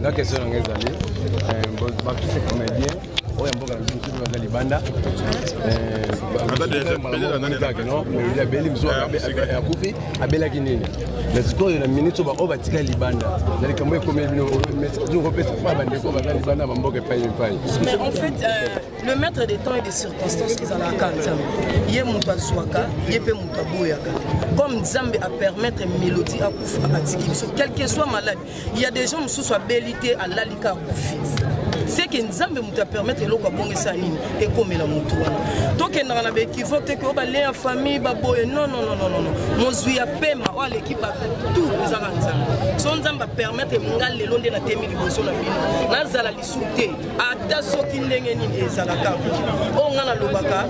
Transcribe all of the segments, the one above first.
nga question nanga ezali eh, bato se comédien oyo ya mboka na biso mosusu baza libanda abeli mosusu akufi abelaki nini na sikoyo na minute oyo baoyo batikali libanda na likambo ekomeli bino kopesa mpa bandeko baza libanda bamboka epai epai le maître de temps et de circonstances ezalaka nzambe ye moto azwaka ye mpe moto aboyaka comme nzambe apermettre mélodie akufa atiki biso quelque soit malade il y a des gens mosusu abeli te alali ka akufi seke nzambe moto apermettre eloko abongisa nini ekomela motu wana tokendaka na baekivoke te koyo bale ya famille baboye nonnnnn mozwi ya pema oyo aleki bato tout ezaka nzambe so nzambe apermettre nga lelo nde natemi liboso na bino nazala te ata soki ndenge nini ezalaka oyo ngai nalobaka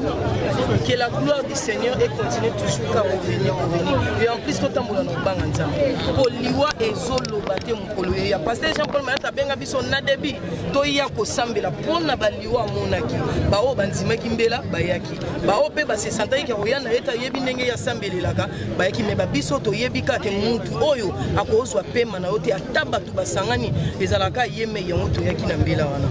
que la gloire du seigneur e continue toujours ka revenir revenir et en plus totambola na kobanga nzambe mpo liwa ezoloba te mokolo ye ya paster jean paul mayata abenga biso na debi toya kosambela mpo na baliwa amonaki baoyo bandimaki mbela bayaki baoyo mpe basesantaki ke koya na ye te ayebi ndenge ye asambelelaka bayaki me babiso toyebi kaka mutu oyo akozwa pema na yo te ata bato basangani ezalaka ye mei yango toyaki na mbela wana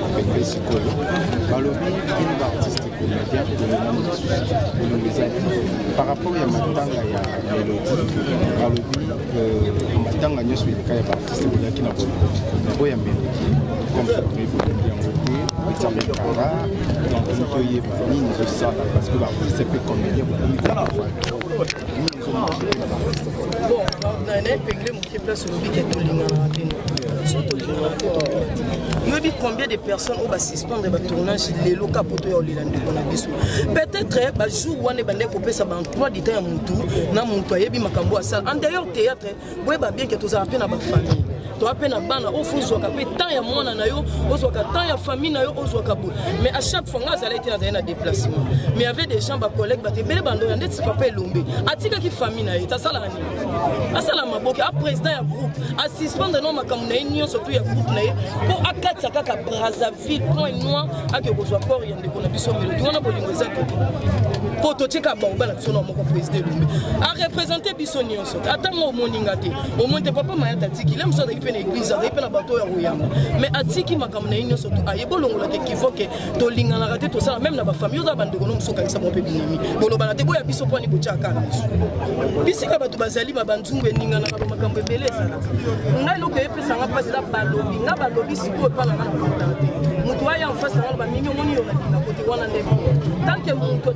apete sikoyo balobi bino baartiste comédien bolobi ezali par rapport ya matanga ya melodie balobi matanga nyonso eleka ya baartiste boyaki na boloko na boya melodie comme ça toyebi yango te examen kara donc toyebi Nini ezosala parce que baartiste mpe comédien bokomi kotala naepengle moke place olobi ke tolinganaka bino so tolingaka yoyebi combien de personnes oyo basuspendre batournage lelo ka poto ya olela ndeko na biso peut-être bajour wana ebandaki kopesa baemploi du temps ya motu na motu ayebi makambo asala en d'ailleurs théâtre boyeba bien ke tozala mpe na bafamille toa mpe na bana oyo fo ozwaka mpe temps ya mwana na yo ozwaka temps ya famille na yo ozwaka boye mais à chaque fois ngai azalaki te nazali na déplacement mais avait des gens bacollègue bato ebele bandoya ndeti papa elombe atikaki famille na ye tasalaka nini asala maboke a président ya groupe asuspendre no makambo na ye nyonso to ya groupe na ye mpo akatisa kaka brazzaville point noir ake kozwa corps ya ndeko na biso melodi wana bolingo eza te mpo totika baoba na biso na moko président elombe arepresente biso nyonso ata nga omoni nga te omoni te papa mayata atiki le mosusu azalaki mpe na eglize azalaki mpe na bato oyo ya koyamba mais atiki makambo na ye nyonso aye bolongola te kivoke tolinganaka te tosala meme na bafamille oza bandeko no mosusu okangisa bango mpe binemi bolobana te boya biso mpani botyaka biso bisika bato bazali babanzungu eninganaka bamakambo ebele ezalaka ngai eloko eyepesanga mpasi eza balobi nga balobi sikoyo epa na nga na kota te moto aya en face na nga na bamimi omoni yo na bina kote wana nde tanke moto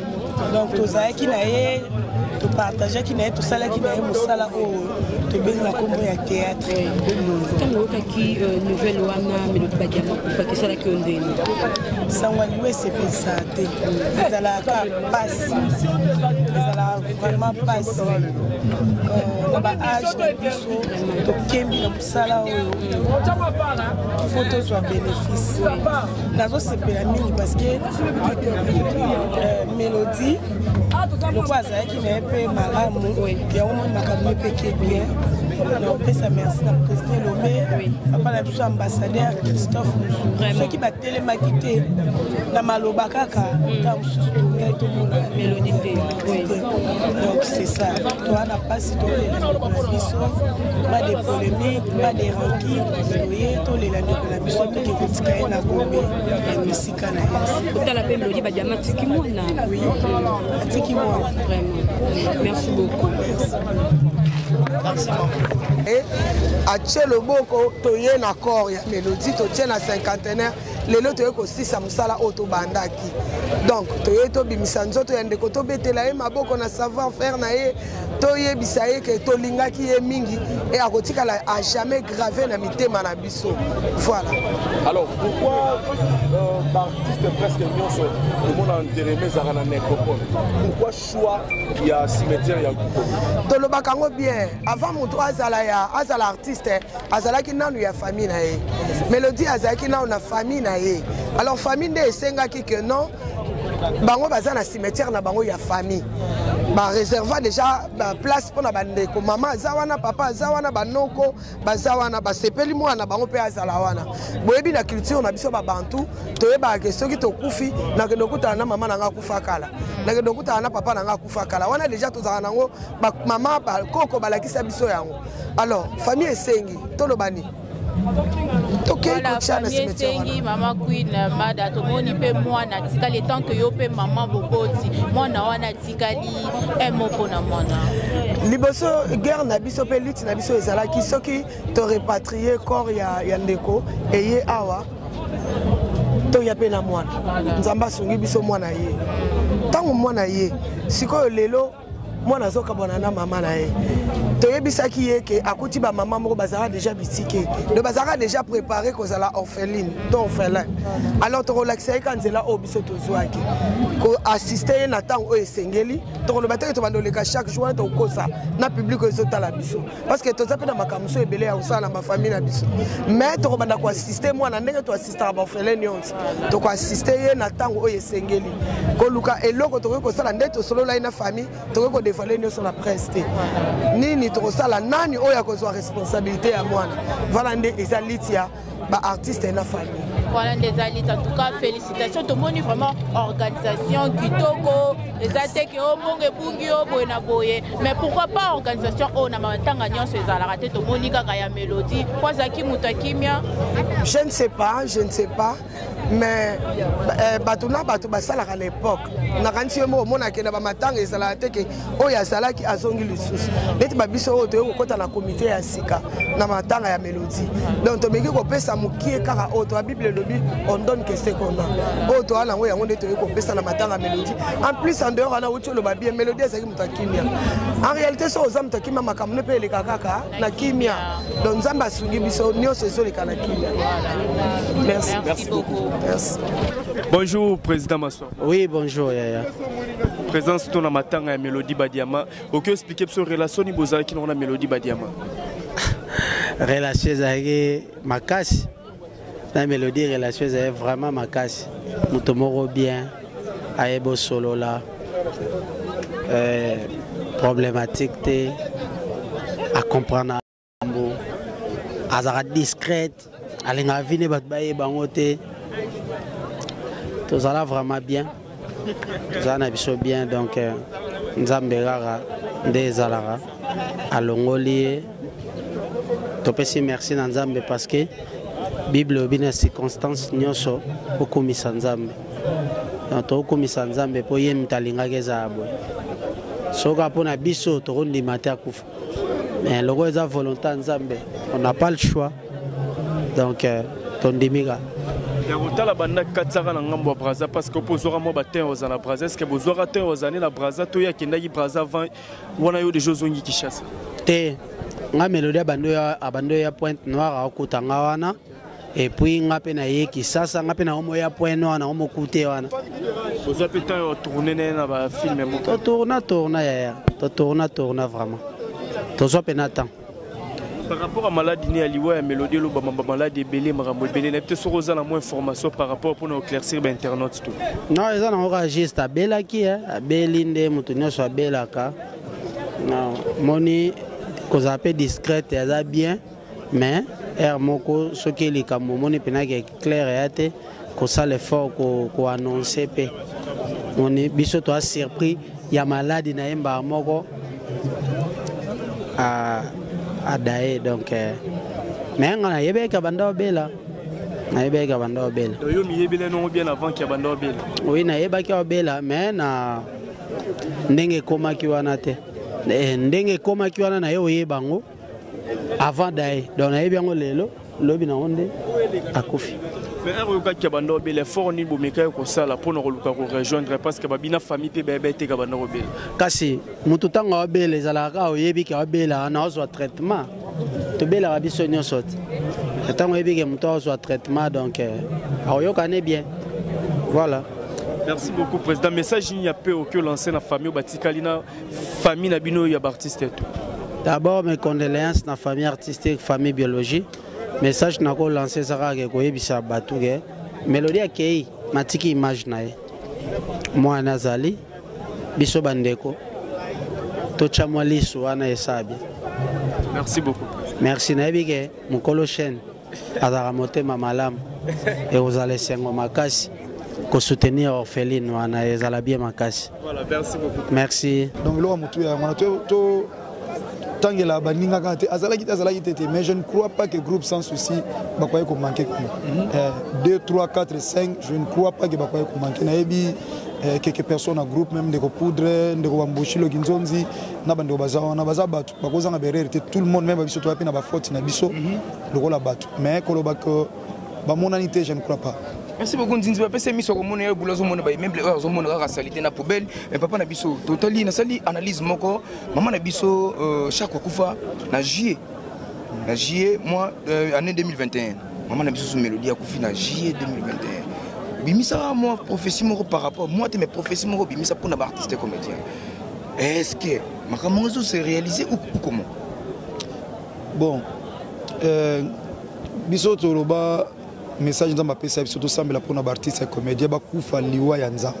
donc tozalaki na ye topartageaki na ye tosalaki na ye mosala oyo tobengi na nkombo ya théâtre ntango oyokaki euh, nouvelle wana melodi badiama kupaki esalaki yo ndenge sango aliwa esepelisa te ezalaka mpasi ezalaka vraiment mpasi euh, na baage na biso tokembi na sala oyo fo tozwa bénéfice nazosepela mingi parce que euh, mélodie lokola azalaki na ye mpe malamu yango moni makambo ye mpe ke bien naopesa merci na président lobe papa na biso ambassadeur christophe mosu soki batelemaki te na maloba kaka ntango mosusu tokai tomona mélodie te Donc c'est ça. Toi, la passe, toi, les biso, pas de polémique, pas de rancune, oye, toi, les landi pour la biso, toi, qui vous tikaye na gombe, la musique na yes. Kota la peine, lodi, badiama, tiki moi, na. Oui, tiki moi. Vraiment. Merci beaucoup. Merci. Merci beaucoup. Et, à Tcheloboko, toye na corps, ya mélodie, totie na cinquantenaire, lelo toye kosisa mosala oyo tobandaki donc toye tobimisa nzoto ya ndeko tobetela ye maboko na savoir faire na ye toyebisa ye ke tolingaki ye mingi e akotikala a jamais grave na mitema na biso voilà alors pourquoi euh, baartiste presque nyonso tomona ntereme ezalaka na necropole pourquoi choix ya cimetière ya tolobaka yango bien avant moto azala ya azala artiste azalaki nanu ya famille na ye melodie azalaki nanu na famille na ye alors famille nde esengaki que non bango baza na cimetière na bango ya famille bareserva déjà baplace mpo na bandeko mama aza wana papa aza wana banoko baza wana basepeli mwana na bango mpe azala wana boyebi na culture na biso babantu toyebaka ke soki tokufi nakende okutana na mama na ngai akufa kala nakende okutana na papa na ngai akufa kala wana déjà tozalaka nango mama bakoko balakisa biso yango alors famille esengi toloba nini voilà famille esengi mama queen euh, mada tomoni mpe mwana atikali etant ke yo mpe mama boboti mwana wana atikali eh, moko na mwana liboso guerre na biso mpe lutte na biso ezalaki soki torepatrie corps ya, ya ndeko eye awa toya mpe na mwana nzambe asungi biso mwana ye ntango mwana ye sikoyo lelo mwana azokabwana na mama na ye toyebisaki ye ke akuti bamama moko bazalaka deja bitike donc bazalaka deja prépare kozala orpheline to orphelin alors tokolakisa ye ka nzela oyo biso tozwaki koassiste ye na ntango oyo esengeli tokoloba teke tobanda oleka chaque jour wana tokokosa na publike oyo ezotala biso parce que toza mpe na makambo mosusu ebele ya kosala na bafamille na biso mais tokobanda koassiste mwana ndenge star baofele nyonso tokoasiste ye na ntango oyo esengeli koluka eloko tokoki kosala nde tosolola ye na famille tokoki kodevoile nyonso na presse te nini tokosala nani oyo akozwa responsabilité ya mwana vala nde eza liti ya baartiste na famille wana nde eza liti en tout cas félicitation tomoni vraiment organisation kitoko eza te ke o mbongo ebungi yo boye na boye mais pourquoi pas organisation oyo na matanga nyonso ezalaka te tomoni kaka ya melodie po azalaki moto ya kimia je ne sais pas je ne sais pas mais eh, bato na bato basalaka na epoke nakanisi yo moko omonake na bamatanga ezalaka te ke oyo azalaki azongi lisusu neti babiso oyo toyei kokɔta na komite ya sika na matanga ya elodie donc tomeki kopesa mokie kaka oyo toya bible elobi on donne que ce qu'on a oyo toya na yango yango nde toyei kopesa na matanga melodie en plus en dehors wana outi oloba bien melodie ezalaki moto ya kimia en réalité soki oza moto ya kimia makambo nde mpe eleka kaka na kimia donc nzambe asungi biso nyonso ezoleka na kimia merci merci beaucoup merci bonjour président maswa oui bonjour yaya présence to na matanga ya melodie badiama oki expliquer biso relation ni bozalaki nango na melodie badiama relation ezalaki makasi na melodie relation ezali vraiment makasi moto moko bien ayebi osolola euh, problématique te acomprendre yango azalaka discrète alingaka vine bato bayeba yango te tozala vraiment bien tozala na biso bien donc euh, nzambe kaka nde ezalaka alongoli ye topesi merci na nzambe parce que bible elobi na circonstance nyonso okumisa nzambe tokumisa nzambe mpo ye moto alingaki ezala boye soka mpo na biso tokondima te akufa mais lokola eza volonté ya nzambe on n'a pas le choix donc euh, tondimi kaka ya kotala banda katisaka na ngambo ya braza parce que mpo ozwaka mwa batin oza na braza eske bozwaka tin oza ne na braza to ye akendaki braza avant wana yo deja ozongi kinshasa te nga melodi abando ya pointe noire akokuta nga wana epuis nga mpe naye kisasa nga mpe na omo ya point noir na omo kute wana oza mpe temps ya tourne naye na bafilme moko totourna tourna yaya totourna tourna vraiment tozwa mpe na temps par rapport à maladi ne ya liwa ya melodi elobama bamaladi ebele makambo ebele nayebi te soki oza na mwa information par rapport mpona oclaircir bainternaute to non eza nango kaka juste abelaki eh. abeli nde moto nyonso abelaka moni kozala mpe discrète aza bien mais heure moko soki likambo omoni mpena ke claire ya te kosala effort koannonce mpe moni biso toa surpris ya maladi na ye mbaa moko adaye donc eh, mais nga nayebeki abanda obela nayebeki abanda obela yo miyebela nongo bien avant ki abanda obela oui nayebaki obela mais na ndenge ekomaki wana te eh, ndenge ekomaki wana na ye oyeba yango avant daye donc nayebi yango lelo lobi nango nde akufi mais heure oyokaki ya banda obela effort nini bomekaki kosala mpo na koluka korejoindre parce que babina famille mpe bayeba eteka banda kobela kasi motu ntango aobela ezalaka kaka oyebi ke aobelaka na ozwa traitement tobelaka biso nyonso te ntango oyebi ke motu aozwa traitement donc eh, aoyoka ne bien voilà merci beaucoup président message nini ya mpe oki olanse na famille oyo batikali na famille na bino ya baartiste to d'abord mes condoléances na famille artistique famille biologie message nako lance eza kaka ke koyebisa bato ke melodi akei natiki image na ye mwana azali biso bandeko totya mwa lisu wana esabi merci beaucoup merci nayebi ke mokolo chaine azalaka motema malamu ekozala esengo makasi kosoutenir orpheline wana ezala bien makasi merci donc eloko motu ya yango wana to tangela baninga kaka te azalaki te azalaki te te mais je ne crois pas que groupe sans souci bakoki komanke kuna 2 3 4 5 je ne crois pas que bakoki komanke nayebi eh, quelques personnes na groupe même ndeko poudre ndeko bambushi loki nzonzi na bandeko baza wana baza bato bakozanga berere te tout le monde meme biso toya mpe na bafaute na biso mhm. lokola bato mais koloba ke bamonani te je ne crois pas merci beaucoup nzinzi bapesa ye miso akomona ye bula azomona baimeble oyo azomona kaka salite na poubelle mais papa na biso totali nasali analyse moko mama na biso euh, chaque akufa na juillet na juillet mois euh, année 2021 mama na biso so melodie akufi na juillet 2021 bimisaka mwa prophétie moko par rapport mwa te mais prophétie moko bimisa mpona baartiste comédien est ce que makambo yango ezo se réaliser ou comment bon euh, biso toloba message nzambe apesa biso tosambela mpona baartiste ya comédien bakufa liwa ya nzambe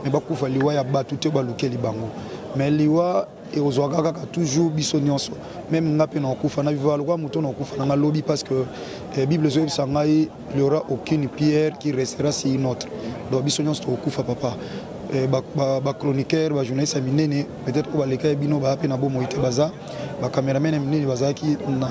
me bakufa liwa ya bato te balukeli bango me liwa ekozwaka kaka toujours biso nyonso meme nga mpe nakokufa na viva lokola moto nakokufa na nga lobi parce que eh, bible ezoyebisa ngai il n'y aura aucune pierre qui restera sur une autre donc biso nyonso tokokufa papa eh, bachroniqueur bajournaliste ya minene peut-être oyo baleka ya bino baya mpe na bomoi te baza bacameraman ya minene bazalaki na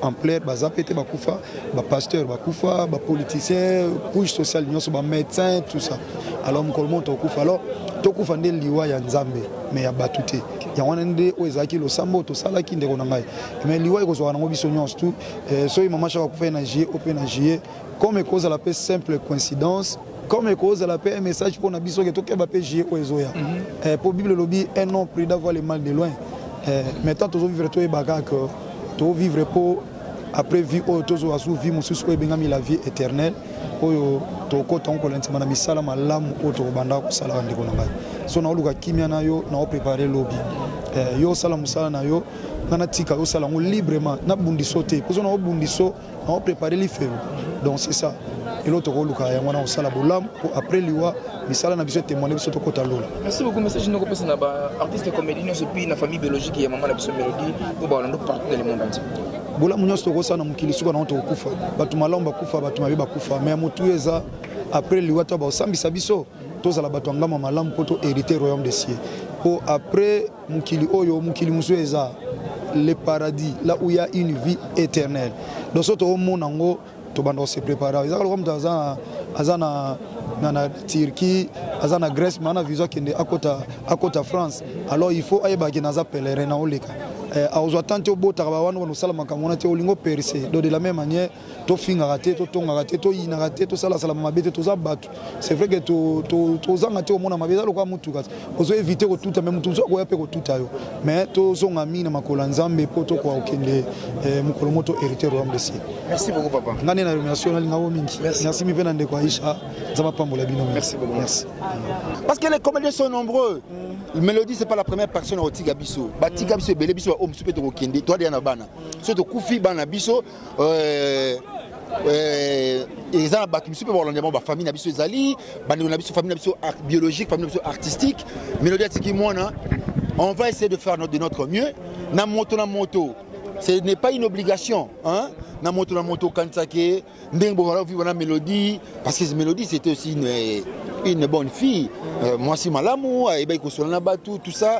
ampleur baza mpe te bakufa bapasteur bakufa bapoliticien couche sociale nyonso bamédecin tout ça alors mokolo moko tokokufa alors tokufa nde liwa ya nzambe me ya bato te yango wana nde oyo ezalaki losambo tosalaki ndeko na ngai me liwa ekozwaka nango biso nyonso tu eh, soki mama shaka akufaki na juillet ope na juillet comme ekozala mpe simple coïncidence comme ekozala mpe un message mpo na biso ke tokeba mpe juillet oyo ezoya mpo mhm. eh, bible elobi un nom prix d'avoir le mal de loin eh, maintenant tozovivre toyebaka ke tovivre mpo après vie oyo tozwa su vie mosusu oyo ebengami la vie éternelle oyo tokota yango kolandisama na misala malamu oyo tokobanda kosalaka ndeko na ngai so naoluka kimia na yo naoprepare lobi eh, yo osala mosala na yo nga natika yo sala yango librement nabundiso te pozo na obundiso na oprépare lifelo donc c'est ça eloko tokoluka yango wana kosala bolamu mpo après liwa misala na biso etemoine biso tokota lola merci beaucoup message noko pesa na ba artiste comédie nyonso puis na famille biologique ya mama na biso mélodie mpo baolando partout dans le monde entier bolamu nyonso tokosala na mokili suka nango tokokufa bato malamu bakufa bato mabe bakufa mais ya motu eza après liwa to baosambisa biso tozala bato ya ngama malamu mpo to hérité royaume de cieux mpo après mokili oyo mokili mosusu eza le paradis là où il y a une vie éternelle donc soki toomona yango tobanda kose prépare ezaka lokola moto aza aza na na, na turquie aza na grèce ma na viso akende akota, akota france alors il faut ayeba akende aza pèlerin na oleka eh, akozwa temps te obotaka bawana wana osala makambo wana te olingi operse donc de la même manière tofingaka te totongaka te toyinaka te tosalasalama mabe te toza bato c'est vrai ke tozanga te komona mabe eza lokola motuka ozo évite kotuta me motu mosusu akoya mpe kotuta yo mais tozonga mingi na makolo ya nzambe mpo tokoka kokende eh, mokolo moto hérité royaume de ciel merci beaucoup papa ngai nde na remercie nalinga yo mingi merci mi mpe na ndeko aisha nzambe apambola bino merci beaucoup merci parce que les comédiens sont nombreux mm. mélodie c'est pas la première personne akotika biso batika biso ebele biso baoyo mosusu mpe tokokende toadeya na bana soki tokufi bana biso euh, euh, eza na bato mosusu mpe bakolanda yango bafamille na biso ezali bandeko na biso famille na biso biologique famille na biso artistique melodi atiki mwana on va essayer de faire de notre mieux na moto na moto ce n'est pas une obligation hein? na moto na moto okanisa ke ndenge bokola vivre na mélodie parce que mélodie c'était aussi une, une bonne fille euh, mwasi malamu ayebaki kosola na bato tout ça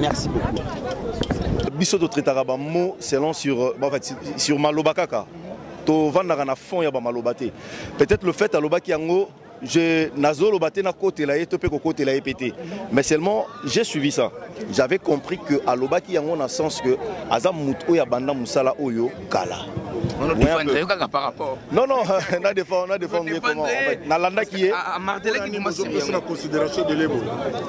Merci beaucoup. Biso to traitaka ba mots selon sur euh, en fait sur maloba kaka. To vandaka na fond ya ba maloba te. Peut-être le fait alobaki yango je nazoloba te na côté la to pe ko côté la pété. Mais seulement j'ai suivi ça. J'avais compris que alobaki yango na sens que aza mutu oya banda musala oyo kala non non na défend na défend ye comment nalandaki ye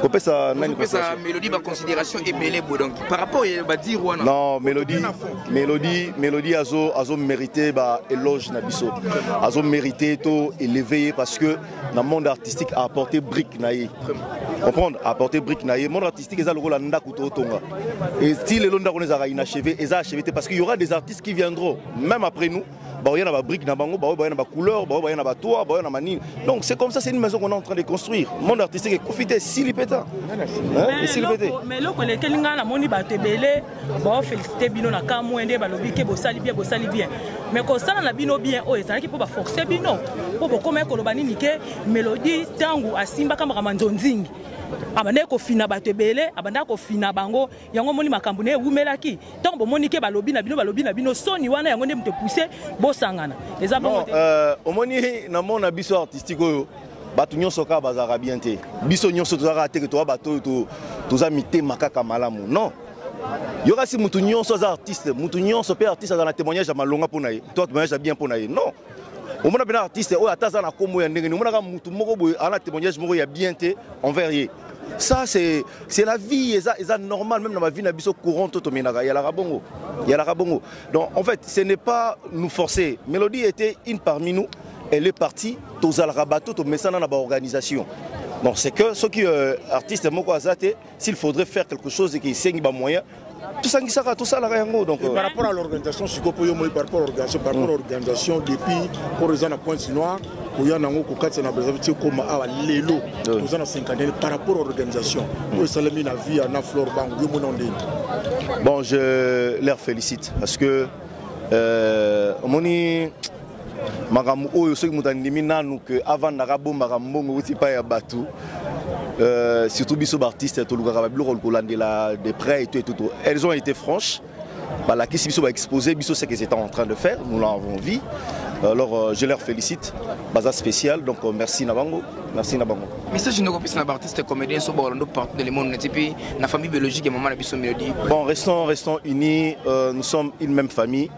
kopesa nani kopesa mélodie ba considération ebele bo donc par rapport ya ba dire wana non mélodie mélodie mélodie azo azo mériter ba éloge na biso azo mériter to élever parce que na monde artistique a apporter brique na ye comprendre apporter brique na ye monde artistique eza lokola ndako totonga et si lelo ndako ezalaka inachevé eza achevé te parce qu'il y aura des artistes qui viendront même après nous baoya na babrique na bango baoyo baya na bacouleur baoyo baya na batoa baoya na manini donc c'est comme ça c'est une maison qu'on est en train de construire monde artistique ekofi te esili mpe ta esili mpe te mais eloko elekeli ngai namoni bato ebele baofelisite bino na ka moye nde balobi ke bosali bien bosali bien mais kosala na bino bien oyo ezalaki mpo baforce bino mpo bokomaki koloba nini ke melodi ntango asimbaka makambo ya nzonzingi abandaki kofina bato ebele abandaki kofina bango yango omoni makambo na ye ewumelaki ntango bomoni ke balobi na bino balobi na bino soni wana yango nde moto epuse bosangana eza bongo euh, omoni na mona biso artistique oyo bato nyonso kaka bazalaka bien te biso nyonso tozalaka teke toza bato oyo toza mitema kaka malamu non yokasi mutu nyonso aza artiste mutu nyonso mpe artiste aza na témoignage ya malonga mpo na ye to témoignage ya bien mpo na ye non omona mpena artiste oyo ata aza na nkombo ya ndenge ni omonaka mutu moko boye aza na témoignage moko ya bien te envers ye ça c'est c'est la vie eza eza normal même na bavie na biso courant to tomenaka yalaka bongo yalaka bongo donc en fait ce n'est pas nous forcer mélodie était une parmi nous elle est partie tozalaka bato tomesana na baorganisation donc c'est que soki euh, artiste moko aza te s'il faudrait faire quelque chose eke esengi bamoyen tosangisaka tosalaka yango donc par rapport à l'organisation sikoyo mpo yo moi par rapport organisation par rapport organisation depuis koro eza na pointe noire koya na yango kokatisa na brazzaville ti ekoma awa lelo toza na cinquantaine par rapport organisation oyo esalemi na via na flore bango yo mona ndenge bon je leur félicite parce que euh, omoni makambo oyo soki moto andimi nanu ke avandaka abombaka mbongo euti epai ya bato euh, surtout biso baartiste tolukaka babiloko kolandela de près eto etutu elles ont été franches balakisi biso baexpose biso ce qu'ils étaient en train de faire nous l'avons vu alors euh, je leur félicite baza spécial donc euh, merci na bango merci na bango message ndeko pesa na artiste comédien so ba Orlando partout dans le monde neti puis na famille biologique ya maman na biso Mélodie bon restons restons unis euh, nous sommes une même famille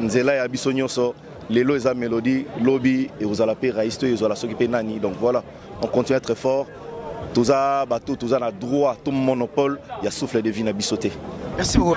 nzela ya biso nyonso lelo eza melodie lobi ekozala mpe rais to ezwala soki mpe nani donc voilà on continue être fort toza bato toza na droit to monopole ya souffle de vie na biso te merci beaucoup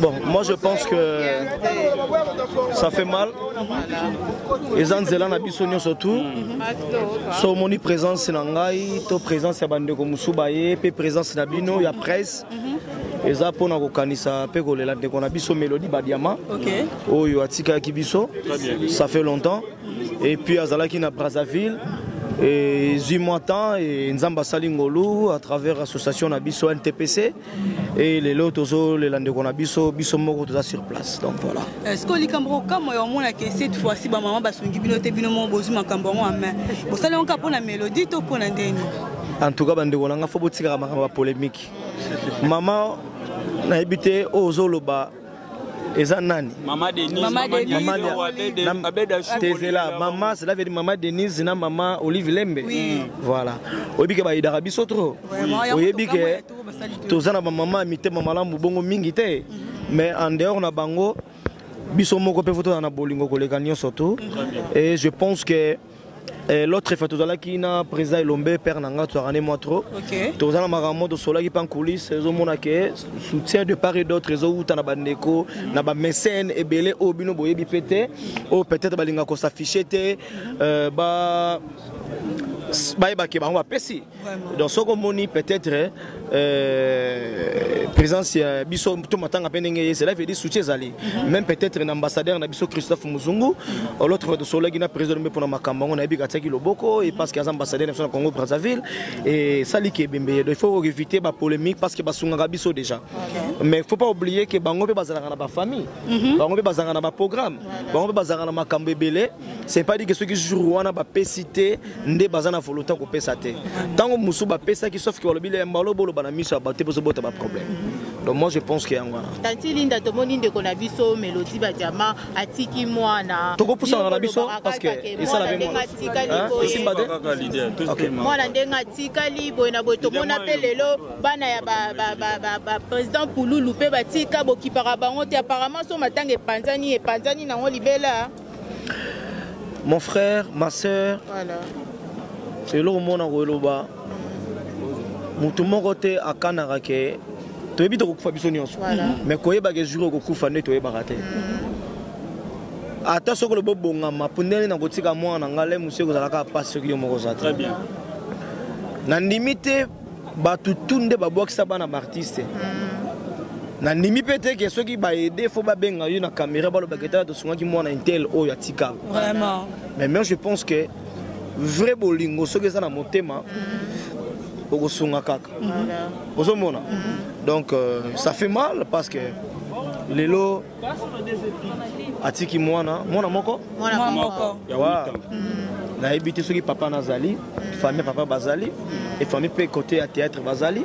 Bon, moi je pense que ça fait mal. Les Anzela na biso nyoso tout. So moni présence na ngai, to présence ya bande ko musubaye, pe présence na bino ya presse. eza mpo na kokanisa mpe kolela ndeko na biso mélodie badiama oyo atikaki biso ça fait longtemps et puis azalaki na Brazzaville et zui moi temps et nzamba sali ngolu à travers l'association na biso NTPC et les lots tozo les lande qu'on a biso biso moko toza sur place donc voilà est-ce que likambo kama ya mona que cette fois ci ba maman basungi bino te bino mo bozu makambo ngo amen bosala ngo pona mélodie to pona ndeni en tout cas bande qu'on a faut botika makambo polémique maman na ebite ozoloba eza nani mama denistezela mama cela veut dire mama denise na mama olive lembe voilà oyebi ke bayidaka biso trop oyebi ke toza na bamama ya mitema malamu bongo mingi te mhm. mais en dehors na bango biso moko mpe fotozala na bolingo koleka nyonso tu et je pense que Eh, l'autre fois tozalaki na président elombe père na nga tozalaka ne mwa trop tozala makambo tosolaki mpe nkulise ezomona ke soutien de part et d'autre ezowuta na bandeko mhm. na bamesene ebele oyo bino boyebi mpe te oyo peut-être balinga kosaffiche te euh, ba bayebake bango bapesi donc soki omoni peut-être euh, présence ya biso to matanga mpe ndenge ye cela veut dire soutien ezali mhm. même peut-être na ambassadeur na biso christophe muzungu mhm. l'autre fois tosololaki na président mpe mpona makambo yango nayebi katiaki loboko e parce que aza ambassadeur na biso na congo brazzaville esaliki ebembe ye donc il faut éviter bapolémique parce que basungaka biso déjà mais faut pas oublier que bango mpe bazalaka na bafamille mhm. bango mpe bazalaka na baprogramme bango mpe bazalaka na makambo ebele c'est pas dit que soki jour wana bapesi te nde baza na volonté ya kopesa te ntango mosusu bapesaki sauf ke balobi le mbalo boloba na miso ya bato te mpo ezobota baproblème donc moi je pense ke yango wana tati linda tomoni ndeko na biso melodi badiama atiki mwana tokopusana na biso parceke esala pe esimba te mwana ndenge atikali boye na boye tomona mpe lelo bana ya baprésident pululu mpe batika bokipaka bango te apparemment so matanga epanzani epanzani nango libela mon frère ma sœur voilà. eloko mona koloba motu moko te akanaka ke toyebi tokokufa biso nyonso mais koyebaka ezuri okokufa nde toyebaka te mm. ata soki olobi obongama mpo ndenge na kotika mwana na ngai le mosu ekozalaka mpasi soki yo moko oza te nandimi te bato tu nde babwakisa bana baartiste hmm. nandimi mpe te ke soki baede fo babenga yo na caméra balobaka etala tosungaki mwana intel oyo atika vraiment mais moi je pense que vrai bolingo soki eza na motema hmm. okosunga kaka ozomona hmm. donc euh, ça fait mal parce que lelo atiki mwana mwana moko mwana moko nayebi te soki papa nazali mm. famille papa bazali mm. et famille mpe côté ya théâtre bazali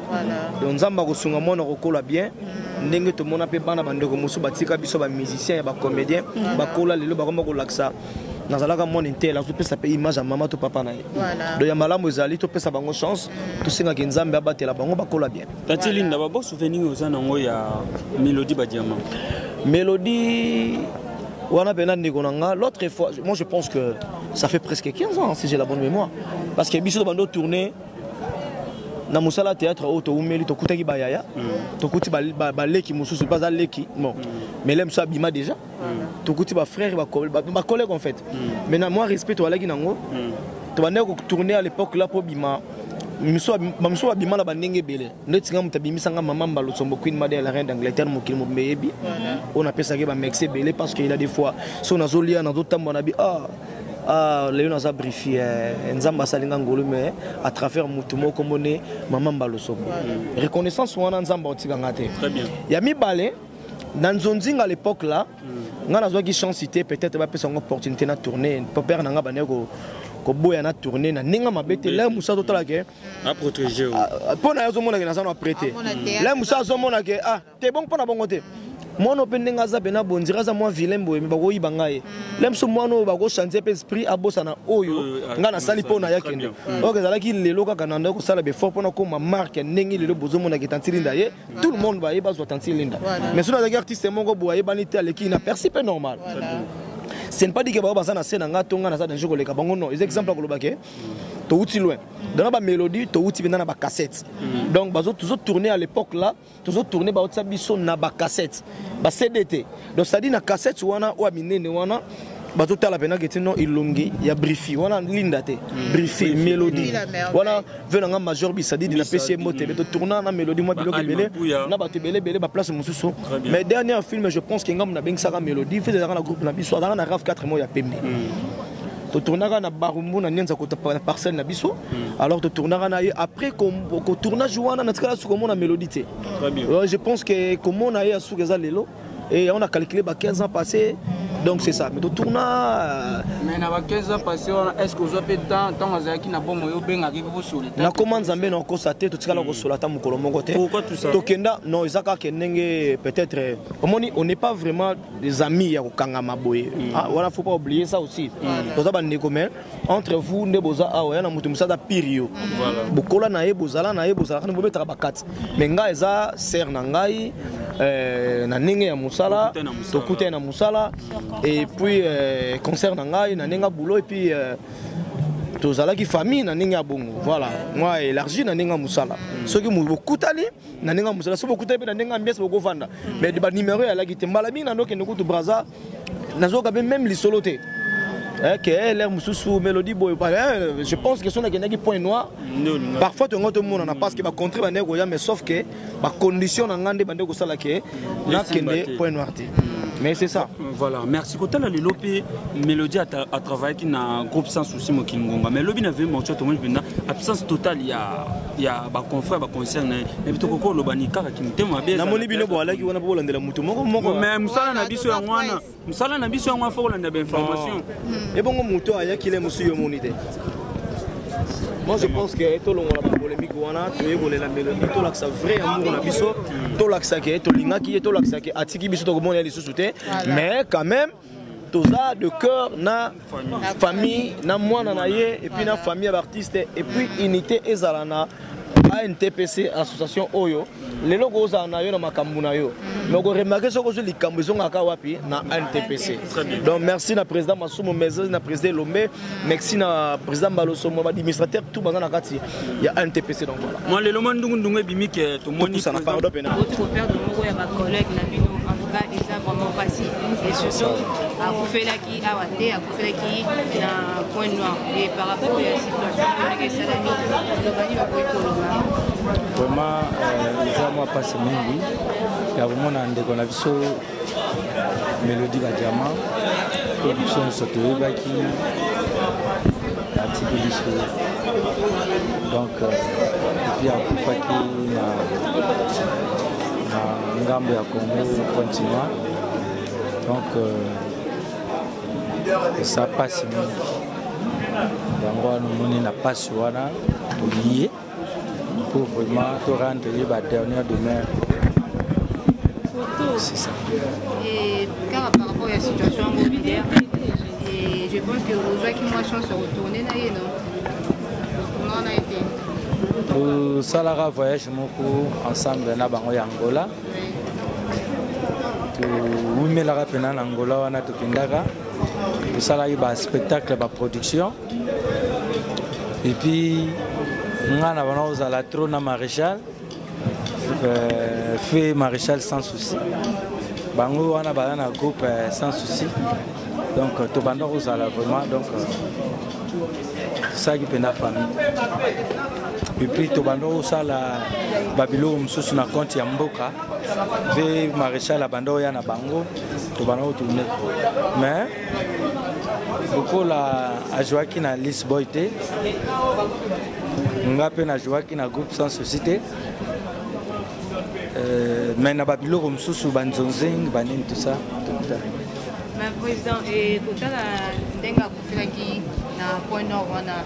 donc nzambe akosunga mwana kokola bien mm. ndenge tomona mpe bana bandeko mosusu batika biso bamusicien ya bacomédien bakola lelo bakoma kolakisa nazalaka mwana intele azopesa mpe image ya mama to papa na ye donc ya malamu ezali topesa bango chance tosengaki nzambe abatela bango bakola bien Tati Linda, ba bo souvenir oza nango ya Melody Badiama. Melody wana pena ndeko na nga l'autre fois moi je pense que ça fait presque 15 ans si j'ai la bonne mémoire parce que biso bando tourner na mosala théâtre oyo toumeli tokutaki bayaya mm. tokuti baleki mosusu mpe aza leki bon mm. melem so abima déjà tokuti ba frères ba collègues en fait mm. mais na moi respect toalaki nango mm. tobandaki kotourne à l'époque là mpo bima bamosusu babima na bandenge ebele ndeti nga moto abimisa nga mama mbalosombo queen made la reine d'angleterre mokili mobimba eyebi oyo napesaki bamexe ebele parce que ila des fois so nazolia nazotambola na bi ah ah, lelo naza brifi eh, nzambe asali nga ngolu mais à travers motu moko mone mama mbalosombo reconnaissance wana nzambe aotika nga te ya mibale na nzonzinga à l'époque là mm. nga nazwaki chance te peut-être bapesa yango opportunité na tourner popere na nga bandaki koboya na tourne na ndenge mabe te lin mosa totala ke mpo na ye azomona ke naza na apres te lin mosa azomona ke ah te bongo mpo na bongo te mwana oyo mpe ndenge aza mpe na bondira aza mwa vilain boye me bakoyiba ngai ye mm. lem so mwana oyo bakochange mpe esprit abosana oyo ah, ngai nasali mpo na yakende oyo ezalaki lelo kaka nandaki kosala befort mpo nakoma marke ndenge lelo bozomonaka etantilinda ye tout le monde baye bazwa tanti linda mais soki azalaki artiste moko boye ayebani te aleki na persi mpe normal ce n'est pas dit que baza na se na nga to nga naza danger koleka bango non eza exemple ya koloba ke towuti loin dans ba mélodie towuti mpenza na bacassette mm. donc bazo tourne à l'époque là tozo tourne baotisa biso na bacassette ba CD te donc ça dit na cassette wana ou minene wana bazotala mpena keti no elongi ya brifi wana linda te hmm. brifi mélodie wana ve nanga major bisadidi napesi ye mbote be totourna na mélodie mwa biloko ebele na bato ebele ebele baplace mosusu mais dernière film je pense ke ngambo nabengisaka mélodie fe ezalaka na groupe na biso azalaka na raf 4 mois ya pembe hmm. totournaka na barumbu na nianza na parcelle na biso hmm. alors totournaka na ye après kotournage wana natikala sukomona mélodie te Euh, je pense que komona ye ya suka eza lelo et on a calculé ba 15 ans passés donc c'est ça mais totourna euh, mais na ba 15 ans passés wana est ce que ozwa mpe temps ntango azalaki na bomo yo obengaki mpe bosoli na koma nzambe na okosa te totikala hmm. kosola ata mokolo moko te tokenda non eza kaka ndenge peut-être euh, omoni on n'est pas vraiment des amis ya kokangama boye hmm. ah, wana faut pas oublier ça aussi hmm. toza bandeko mais entre vous nde boza awa ya na moto mosusu aza pire yo bokola na ye bozala na ye bozalaka nde bobetaka bakati mais ngai eza sere na ngai euh, na ndenge ya mosala tokutani na mosala et puis euh, concert na ngai na ndenge ya boulot et puis euh, tozalaki famille na ndenge ya bongo voilà moi élargi na ndenge ya mosala soki bokutani na ndenge ya mosala soki bokutani mpe na ndenge ya ambiance bokovanda mais banimero eyalaki te mbala mingi na ndokende kutu braza nazoyoka mpe meme lisolo te eh, ke eh, lere mosusu mélodie boye eh, je pense que soki nakendaki point noir parfois tongo tomonana parce que bacontre bandeki koya mais sauf que bacondition na ngai nde bandeki kosala ke nakende point noir te mais c'est ça voilà merci kotala lelo mpe mélodie atravaillaki na groupe sans souci mokili ngonga mais lobi na vemortua tomoni mpenza absence totale ya ya ba confrère ba concert na ye mais bitoko ko loba ni kaka ki mutema mabe na moni bino boalaki wana pour landela mutu moko moko mais musala na biso yango wana musala na biso yango faut kolanda ba information hmm. et bongo mutu ayaki le musu yo moni te moi je pense que tolongola bapolémike wana toye kolela melodi tolakisa vrai amour na biso tolakisa ke tolingaki ye tolakisa ke atiki biso tokomona ye lisusu te mais quand même toza de cœur na famille na mwana na ye epuis na famille ya baartiste epuis unité ezala na antpc association oyo lelo kozala na yo na makambo na yo me okoremake soki ozwi likambo ezongaka wapi na antpc donc merci na président masumu mais na président elombe merci na président mbaloso mo administrateur tout baza na kati ya ntpc donc voilà moi lelo mwa ndungu ndungu ebimi ke tomoni ça na pardon pena votre père de moko ya ba collègue na bino en tout cas eza vraiment pasi et surtout akufelaki awa te akufelaki na point noir et par rapport ya situation ndenge esalami lobani bakoki koloba vraiment euh, eza mwa pasi mingi ya komona ndeko na biso melodi badiama oyo biso nyonso toyebaki atiki biso donc epuis euh, akufaki na ngambo ya congo continua donc eza euh, mpasi mingi yango wana omoni na mpasi wana tolie Pour vraiment to rendre ye ba dernière demeure. C'est ça. Et car par rapport à la situation immobilière, et je pense que vous avez moins chance de retourner na ye non. Comment on a été tosalaka voyage moko ensemble na bango ya angola towumelaka mpena na angola wana tokendaka tosalaki baspectacle baproduction et puis nga na bana ozala trop na maréchal euh, fait maréchal sans souci bango wana baza na groupe euh, sans souci donc euh, tobanda kozala vraiment donc tosalaki mpenza famille epuis tobanda kosala babiloko mosusu na konte ya mboka mpe maréchal abanda oya na bango tobanda kotourne mais lokola ajouaki na lisboy te nga mpe najouaki na groupe sans souci te euh, mais na babiloko mosusu banzonzing banini tout ça président ekotala ndenge akufelaki na point nord wana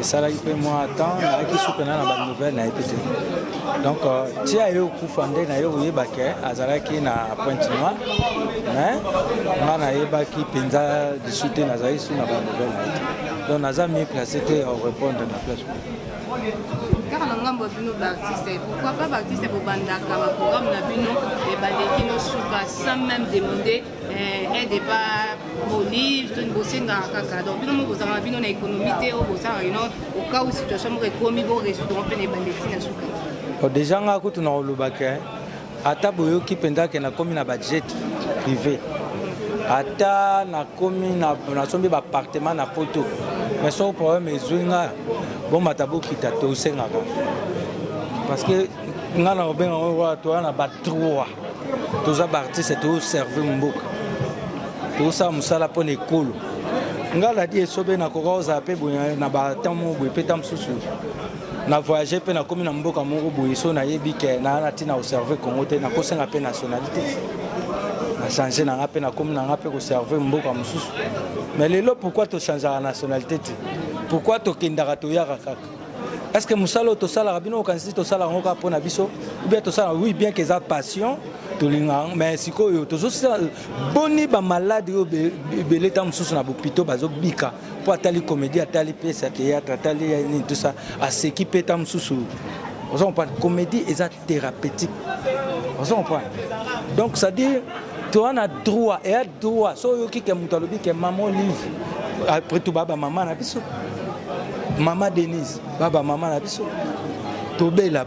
esalaki mpe mwa temps nayaki suka na na banouvelle nayebi te donc euh, tia ye okufa nde naye koyeba ke azalaki na pointe noire mais nga nayebaki mpenza lisu te nazalaki su na banouvelle naye te donc naza mi place te ya korépondre na place kaka na ngambo ya bino baartiste pourquoi pas baartiste bobandaka baprogramme na bino ebandeki nosuka sans même demande eh, aide epa bolive toni bosengaka kaka donc bino moko bozalaka na bino na économie te oyo bozalaka ino okau situation moko ekomi bo résoudre mpe na ebande ti na suka oh, déjà ngai kutu na kolobaka ata boyoki mpenza ke nakomi na bajet privé ata nakomi nasombi baappartement na poto mais soko problème ezwi nga bomata bokita tosengaka parce que nga na obenga yango wana toya na ba trois toza baartiste toservir mboka tosala mosala mpo na ekolo nga nadi esobe nakoka kozala mpe boye na batemp moko boye mpe ta mosusu na voyage mpe nakomi na mboka moko boye so nayebi ke naa na ntina koserve congo te nakosenga mpe nationalité nachange na nga mpe nakomi na nga mpe koserve mboka mosusu mais lelo pourkui tochangeaka nationalité te pourkui tokendaka toyaka kaka est ce que mosala oyo tosalaka bino okanisi tosalaka yango kaka mpo na biso ubien tosalaka oui bien keza passion tolinga yango mais sikoyo tozosala boni bamaladi oyo ebele ntango mosusu na bopito bazobika mpo atali komedi atali pese ya théâtre atali nini tosa aseki mpe ntango mosusu oza comprendre komedi eza thérapeutique oza comprendre donc c'est à dire toza na droit Toi, so oyoki ke moto alobi ke maman olive après tout baba mama na biso mama denise baba mama na biso tobela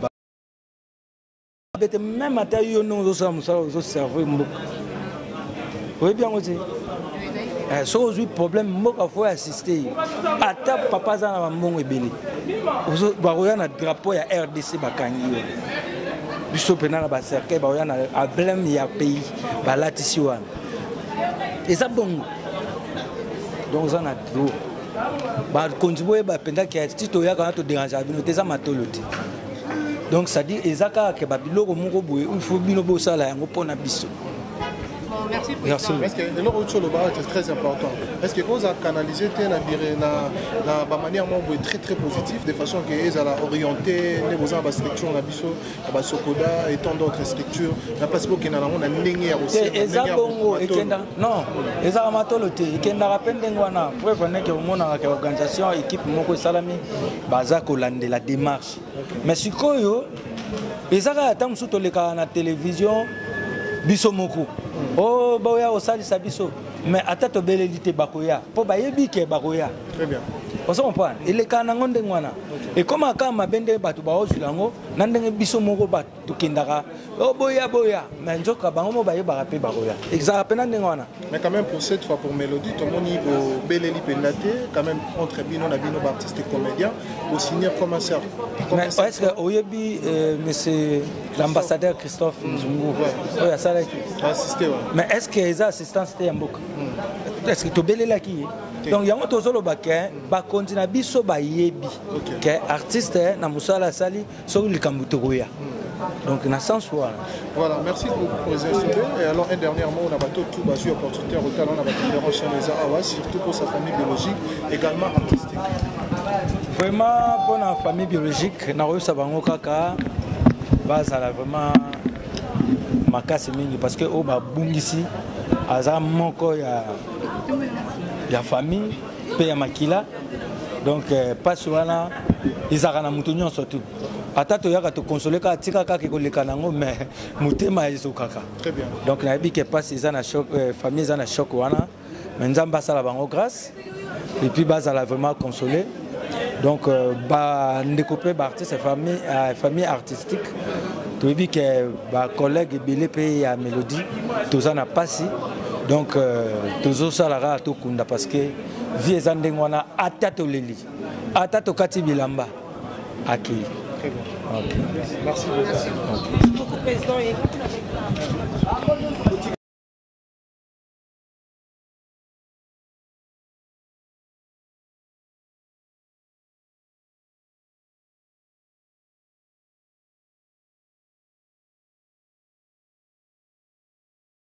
bete meme ata yo ndenge ozosala mosala ozoserve mboka oyebi yango te eh, soki ozwi problème mboka fo assiste ye ata papa aza na bambongo ebele bakoya na drapeau ya rdc bakangi yo biso mpena na bacercueil bakoya na ablème ya pays balatisi wana eza bongo donc oza na droit bakonzi boyeba mpenza ke ti toyaka wana toderangea bino te eza matolo te donc cetadire eza kaka ke babiloko moko boye il faut bino bosala yango mpo na biso Merci, Merci. Parce que le retour le barat est très important. Parce que quand on a canalisé la la manière membre très très positive de façon que les à orienter les beaux en structure la biso basokoda et tant d'autres structures na place bokenda nango na ndenge ya eza bongo ekenda non ezaka matolo te ekendaka mpe ndenge wana preuve neke omonaka ke organisation équipe moko esalami baza kolandela démarche mais sikoyo eza kaka ntango mosusu tolekaka na télévision biso moko o oh, baoya kosalisa biso mais ata tobeleli te bakoya mpo bayebi ke bakoya ozo comprendre elekaka nango ndenge wana ekomaka kaka mabe nde bato baozwila yango na ndenge biso moko bato tokendaka oh, boya boya mais nzoka bango mo bayebaka mpe bakoya ezalaka mpe na ndenge wana mais quand même pour cette fois pour mélodie tomoni bobeleli mpenza te quand même entre bino na bino baartiste comédien bosignir comme un cercle mais est ce que oyebi euh, monsieur l'ambassadeur christophe mm. nzungu oyo asalaki mais est ce que eza assistance te ya mboka hmm. est ce que tobelelaki ye donc yango tozoloba ke bakonzi na biso bayebi okay. ke artiste eh, na mosala asali soki likambo tokoya hmm. donc na sens wana voilà merci présidente et alors un dernier mot na bato tout bazwi opportunité ya kotala na badifférent chaine eza awa surtout pour sa famille biologique également artistique vraiment mpo na famille biologique nakoyebisa bango kaka bazala vraiment makasi mingi parce que oyo oh, babungisi aza moko ya ya famille mpe ya makila donc euh, mpasi wana ezalaka na moto nyonso tu ata toyaka tokonsole kaka tika kaka ekoleka nango mais motema ezokaka donc nayebi ke mpasi eza na choc euh, famille eza na choc wana mais nzambe asala bango grâce et puis bazala vraiment consolé donc euh, bandeko mpe baartiste famille, euh, famille artistique toyebi ke bacollègue ebele mpe ya mélodie toza na mpasi donc euh, tozosala kaka tokunda parce que vie eza ndenge wana ata toleli ata tokati bilamba akei okay. Merci beaucoup. Merci beaucoup.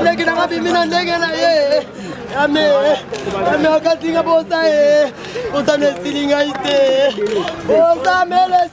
ndenge nanga bimi na ndenge na ye ame ame okatinga bosa ye bosa na esili ngai te bosa mele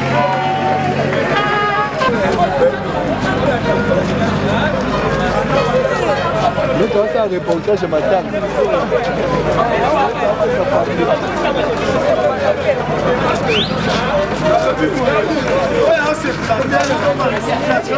Nitawasa reportage matanga Thank you.